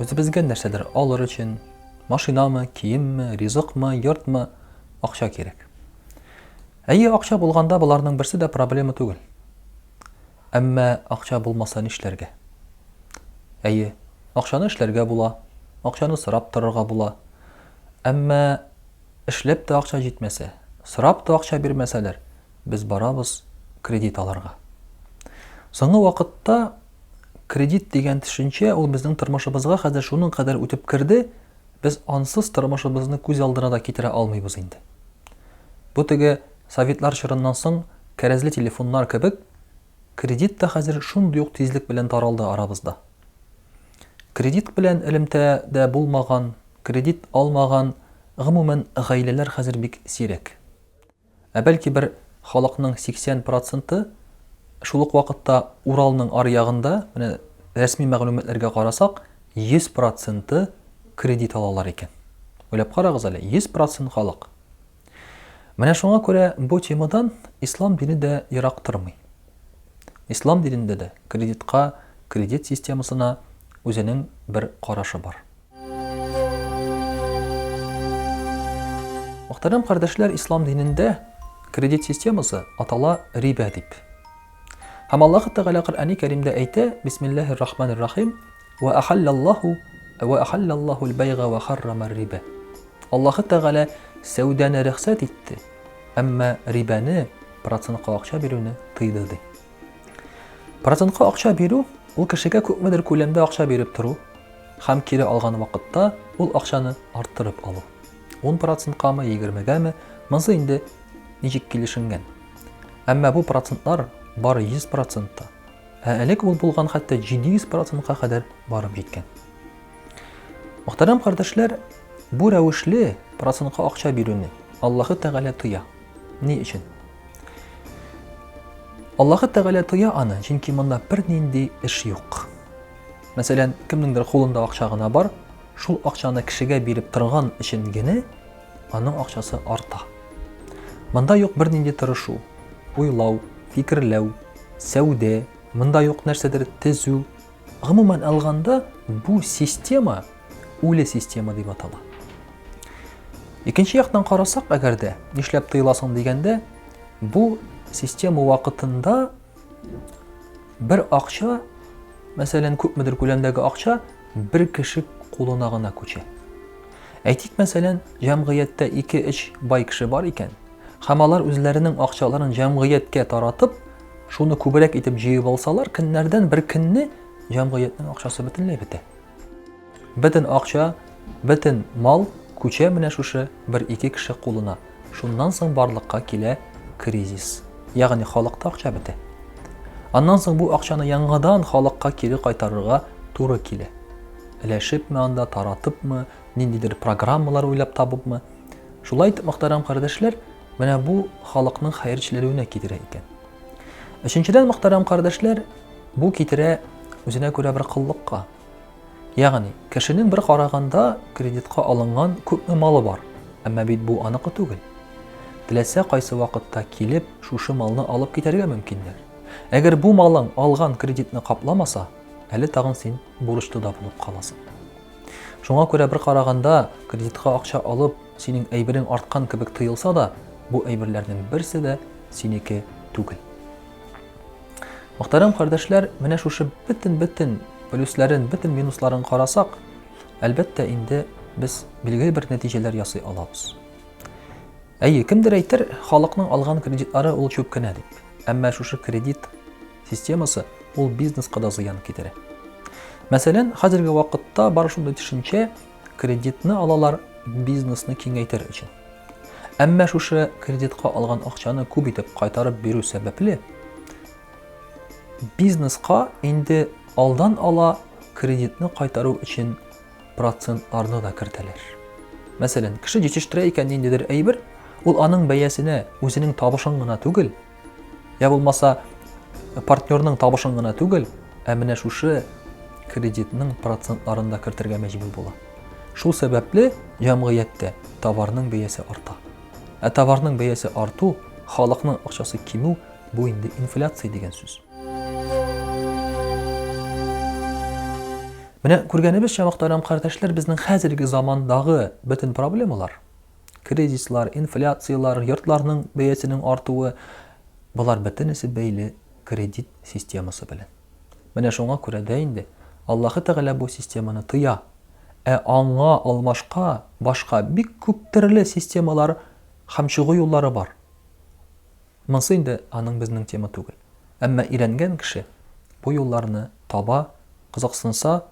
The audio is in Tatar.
Үзебезгә нәрсәдер алыр өчен, машинамы, киемме, ризыкмы, йортмы, акча кирәк. Әйе, акча булганда боларның берсе дә проблема түгел. Әмма акча булмаса нишләргә? Әйе, акчаны эшләргә була, акчаны сорап торырга була. Әмма эшләп тә акча җитмәсә, сорап та акча бирмәсәләр, без барабыз кредит алырга. Соңгы вакытта кредит дигән төшенчә ул безнең тормышыбызга хәзер шуның кадәр үтеп керде, без ансыз тормышыбызны күз алдына да китерә алмыйбыз инде. Бу теге советлар чорыннан соң кәрәзле телефоннар кебек, кредит та хәзер шундый ук тизлек белән таралды арабызда. Кредит белән элемтә дә булмаган, кредит алмаган, гомумән, гаиләләр хәзер бик сирәк. Ә бәлки бер халыкның 80 проценты шул ук вакытта Уралның аръягында, менә рәсми мәгълүматларга карасак, 100 проценты кредит алалар икән. Уйлап карагыз әле, 100 процент халык. Менә шуңа күрә бу темадан ислам дине дә ерак тормый. Ислам динендә дә кредитка, кредит системасына үзенең бер карашы бар. Мөхтәрәм кардәшләр, ислам динендә кредит системасы атала рибә дип. Һәм Аллаһ Тәгалә Коръәни Кәримдә әйтә, Бисмиллаһир рахманир рахим, ва ахаллаллаху ва ахаллаллахул байга ва харрамар рибә. Аллаһ Тәгалә сәүдәне рөхсәт итте, әмма рибәне, процентка акча бирүне тыйды ди. Процентка акча бирү ул кешегә күпмедер күләмдә акча биреп тору, Һәм кире алган вакытта ул акчаны арттырып алу. Ун проценткамы, егермегәме, монсы инде ничек килешенгән. Әмма бу процентлар бары 100 процентта. Ә элек ул булган хәтта 700 процентка кадәр барып җиткән. Мөхтәрәм кардәшләр, бу рәвешле процентка акча бирүне Аллаһы Тәгалә тоя. Ни өчен? Аллаһы Тәгалә тоя аны, чөнки монда бернинди эш юк. Мәсәлән, кемнеңдер кулында акча гына бар, шул акчаны кешегә биреп торган өчен генә аның акчасы арта. Монда юк бернинди тырышу, уйлау, фикерләү, сәүдә, монда юк нәрсәдер төзү. Гомумән алганда, бу система үле система дип атала. Икенче яктан карасак, әгәр дә нишләп тыеласың дигәндә, бу система вакытында Бер акча, мәсәлән, күпмедер күләмдәге акча бер кеше кулына гына күчә. Әйтик, мәсәлән, җәмгыятьтә 2-3 бай кеше бар икән, һәм алар үзләренең акчаларын җәмгыятькә таратып, шуны күбрәк итеп җыеп алсалар, көннәрдән бер көнне җәмгыятьнең акчасы бөтенләй бетә. Бөтен акча, бөтен мал күчә менә шушы бер-ике кеше кулына. Шуннан соң барлыкка килә кризис. Ягъни халыкта акча бетә. Аннан соң бу акчаны яңадан халыкка кире кайтарырга туры килә. Өләшепме анда, таратыпмы, ниндидер программалар уйлап табыпмы. Шулай итеп, мөхтәрәм кардәшләр, менә бу халыкның хәерчеләнүенә китерә икән. Өченчедән, мөхтәрәм кардәшләр, бу китерә үзенә күрә бер кыллыкка. Ягъни, кешенең бер караганда кредитка алынган күпме малы бар, әмма бит бу аныкы түгел. Теләсә кайсы вакытта килеп, шушы малны алып китәргә мөмкиннәр. Әгәр бу малың алган кредитны капламаса, әле тагын син бурычлы да булып каласың. Шуңа күрә бер караганда кредитка акча алып, Синең әйберең арткан кебек тоелса да, бу әйберләрнең берсе дә синеке түгел. Мөхтәрәм кардәшләр, менә шушы бөтен-бөтен плюсларын, бөтен минусларын карасак, әлбәттә инде без билгеле бер нәтиҗәләр ясый алабыз. Әйе, кемдер әйтер, халыкның алган кредитлары ул чүп кенә дип. Әмма шушы кредит системасы ул бизнеска да зыян китерә. Мәсәлән, хәзерге вакытта бар шундый төшенчә, Кредитны алалар бизнесны киңәйтер өчен. Әмма шушы кредитка алган акчаны күп итеп кайтарып бирү сәбәпле, бизнеска инде алдан ала кредитны кайтару өчен процентларны да кертәләр. Мәсәлән, кеше җитештерә икән ниндидер әйбер, ул аның бәясенә үзенең табышын гына түгел, Йә булмаса, партнерның табышын гына түгел, ә менә шушы кредитның процентларын да кертергә мәҗбүр була. Шул сәбәпле җәмгыятьтә товарның бәясе арта. Ә товарның бәясе арту, халыкның акчасы кимү бу инде инфляция дигән сүз. Менә күргәнебезчә, мөхтәрәм кардәшләр, безнең хәзерге замандагы бөтен проблемалар Кризислар, инфляцияләр, йортларның бәясенең артуы, болар бөтенесе бәйле кредит системасы белән. Менә шуңа күрә дә инде Аллаһы Тәгалә бу системаны тыя. Ә аңа алмашка башка бик күп төрле системалар һәм чыгу юллары бар. Монсы инде аның безнең тема түгел. Әмма өйрәнгән кеше бу юлларны таба, кызыксынса,